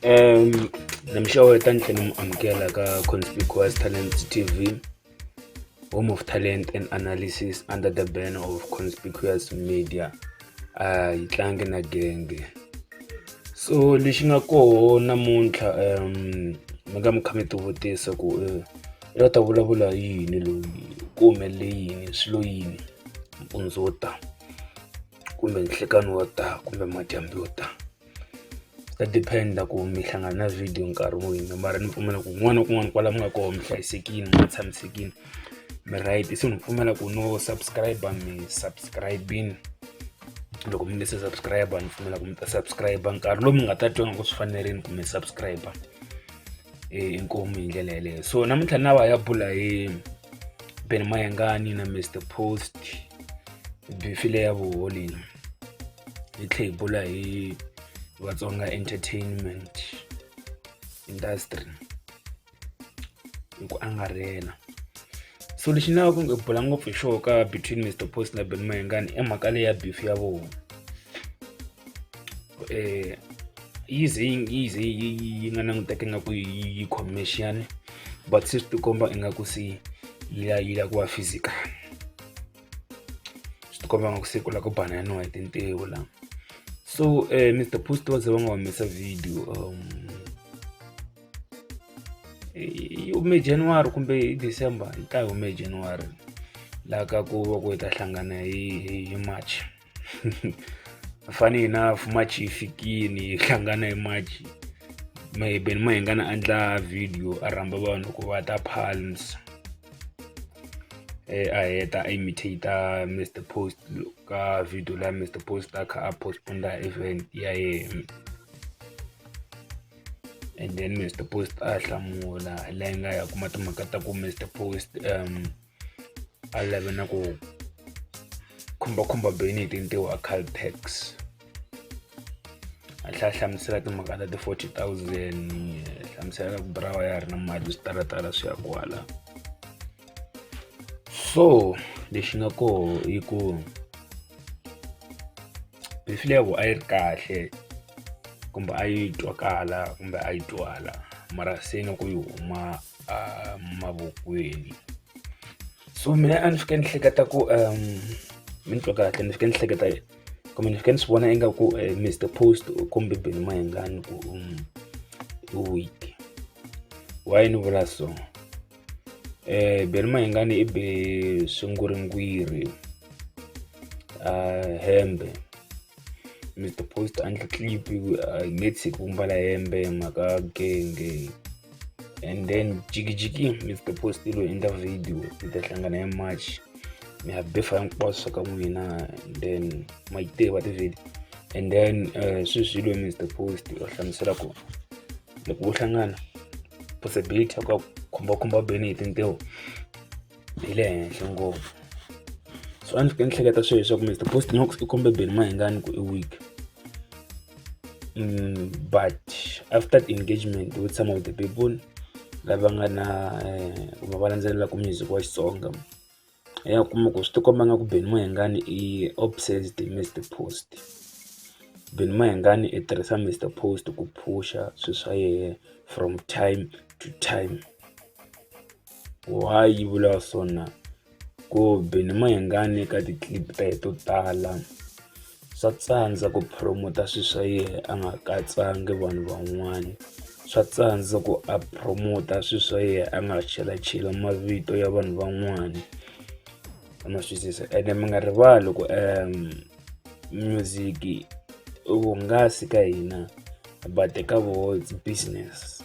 um ni mi xeweta ni tlhela ni mi amukela ka conspicuous talent tv home of talent and analysis under the banner of conspicuous media a ah, yi tlangi na genge so lexi nga koho namuntlha um mi nga mi kha mi tivutisa ku eh, i ta vulavula yini loyi ku humelele yini swilo yini mpundzu wo tani kumbe nhlikani wo ta kumbe madyambu yo ta swi ta depend-a ku mi hlangana na video nkarhi wini mara ni pfumela ku kun'wana na kun'wana kwala mi nga kona mi hlayisekile mi tshamisekile mi right se ni pfumela ku no subscribe mi subscribini loko mi nge se subscribe ni pfumela ku mi ta subscribe nkarhi lowu mi nga ta twa nga ku swi fanerile ku mi subscribe inkomu hi ndlela yeleyo so namuntlha na va ya bula hi ben mayengani na mr post bifile ya vuholini hi tlhe hi bula hi vatsonga entertainment industry hi ku angarhela so lexi ni lavaka ku bula ngopfu hi xoho ka between mr post na ben mayengani i mhaka leyi ya beef ya vona eh yi ze yi yi ze yi yi nga languteka ingaku yi yi commercial but se swi tikomba ingaku se yi la yi la ku va physical swi tikomba ingaku se ku la ku bananiwa hi tintiho la so um eh, mr post va ze va nga humesa video um yi hume january kumbe hi december yi ta yi hume january laha ka ku va ku hi ta hlangana hi hi march funny enough march yi fikini yi hlangana hi march mehe ben ma hi nga na endla video a rhamba vanhu ku va ta palms eh, a heta a imitator mr post ka video la mr post a kha a postponda event ya yena and then mr post a hlamula la yi nga ya kuma timhaka ta ku mr post um a lave na ku khumbakhumba bini hi tintiho a caltex a tlhela hlamusela timhaka ta ti-forty thousand hlamusela ku burawa ya ha ri na mali swi talatala swi ya kwala so lexi nga koho i ku beef levo a yi ri kahle kumbe a yi twakala kumbe a yi twala mara se na ku yi huma a mavokweni so mina a ni fike ni hleketa ku um mi ni twa kahle ni fike ni hleketa kumbe ni fike ni swi vona ingaku um eh, mr post u kombe beni mayengani ku um i weak why ni vula so um eh, beni mayengani i be sunguri ngwiri a ah, hembe ni ti post a ndli clip i nge tshiki ku mbala hembe mhaka genge and then jikijiki mi ti post lo endla video mi ta hlangana hi march mi ya befa hinkwaswo ka n'wina and then ma yi tiva tivhidi and then uh, swi swilo mi ti post va hlamusela ku loko wo hlangana possibility ya ku khumbakhumba beni hi tintiho byi le henhla ngopfu so a ndzi fike ndzi hleketa swilo leswaku Mister Post Knox i kombe Benny Mayengani ku i weak mm, but after the engagement with some of the people lava nga na eh, kumbe va landzelelaka music wa Xitsonga ya kuma ku swi tikomba nga ku Benny Mayengani i obsessed hi Mister Post Benny Mayengani i tirhisa Mister Post ku phusha swilo swa yena from time to time. Wahi vula swona kumbe ni ma yingani eka ti clip ta ye to tala swa tsandza ku promoter swi swa yena a nga katsanga vanhu van'wana swa tsandza ku a promoter swi swa yena a nga chelacheli mavito ya vanhu van'wana ma swisisa ene mi nga rivali ku music i vuhungasi ka hina but ka voho it's business.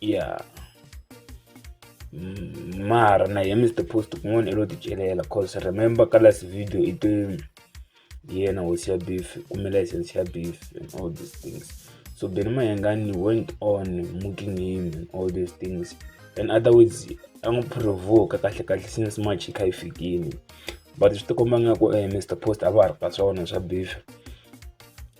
ya mm, mara na ye mr post kun'wana i lo ti celela cause remember ka last video i te yena hosi ya beef kumbe license ya beef and all these things so beni mayengani went on mooking him and all these things in other words a n'wi provoka kahle kahle since march yi kha yi fikile but swi tikomba nga ku eh, mr post a va ha ri ka swona swa beef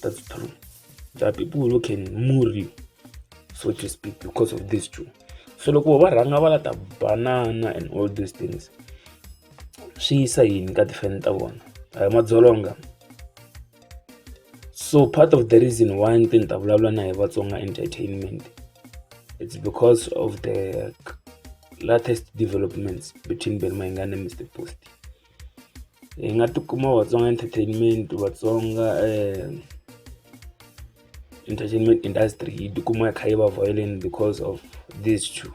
That's true. There are people who can move you, so to speak, because of this too. So look, va rhanga va lata banana and all these things swi yisa yini ka tifeni ta vona a hi madzolonga so part of the reason why ni te ni ta vulavula na hi vatsonga entertainment it's because of the latest developments between benmainga na mr post hi nga ti kuma Vatsonga Entertainment Vatsonga Entertainment Industry yi ti kuma yi kha yi va vhayeleni because of these two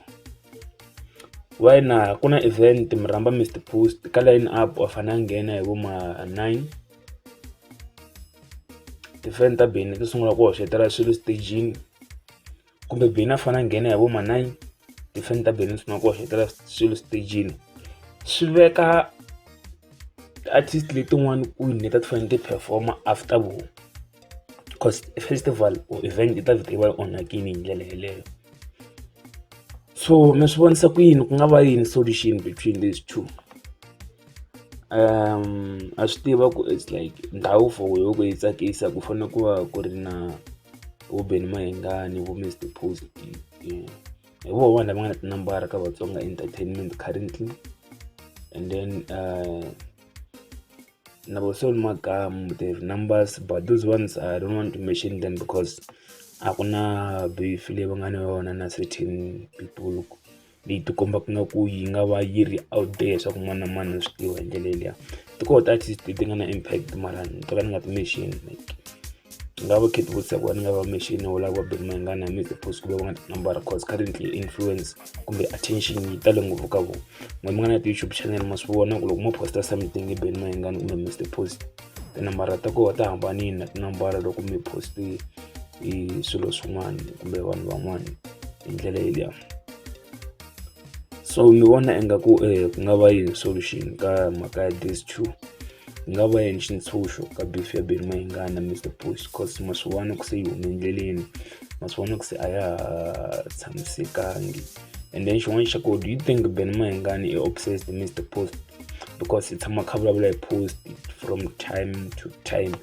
why na ku na event mi rhamba mi stir post ka line up wa fane a nghena hi vo ma nine ti fan ta Benny ti sungula ku hoxotela swilo stejini. kumbe Benny a fanele a nghena hi vo ma nine tifoni ta Benny swi maka ku hoxetela swilo xitejini swi veka ti-artist letin'wana kwini leti a ti fanele ti perform-a after vona coz i festival or event yi ta vheta yi va yi onhakile hi ndlela yeleyo so mi swi vonisa ku yini ku nga va yini solution between these two. a swi tiva ku it's like ndhawu for yoh ku yi tsakisa ku fanele ku va ku ri na vo Benny Mayengani vo Mister Post hi voho vanhu lava nga na tinambara ka Vatsonga Entertainment currently and then na vo Soul Makamu they have numbers but those ones I don't want to mention them because a ku na beef leyi va nga na yona na certain people. leyi ti kombaka nga ku yi nga va yi ri out there leswaku mani na mani a swi tiva hi ndlela yeliya ti koho ti artist leti nga na impact mara ni to ka ni nga ti mention like ni nga va khethi vutisa ku va ni nga va mention wo lava va beni mayingana mi the post kumbe va nga ti number cause currently influence kumbe attention yi tale ngopfu ka vona n'we mi nga na ti-youtube channel ma swi vona ku loko mo posta something hi beni mayingana kumbe mi the post tinambara ta koho ta hambanile na tinambara loko mi poste hi swilo swin'wana kumbe vanhu van'wana hi ndlela yeliya so ni vona ingaku um ku nga va yini solution ka mhaka ya these two ku nga va yini xintshunxo ka beef ya beni mayingana mr bush cause maswiwani ku se yi hume endleleni maswiwani ku se a ya ha tshamisekangi and then xin'wana xa ko do you think beni mayingani i obsessed mr post because i tshama kha vulavula hi post from time to time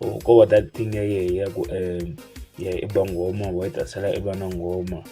or ko va that thing ya yehe ya ku um ya i ba nghoma wa yi tasela i va na nghoma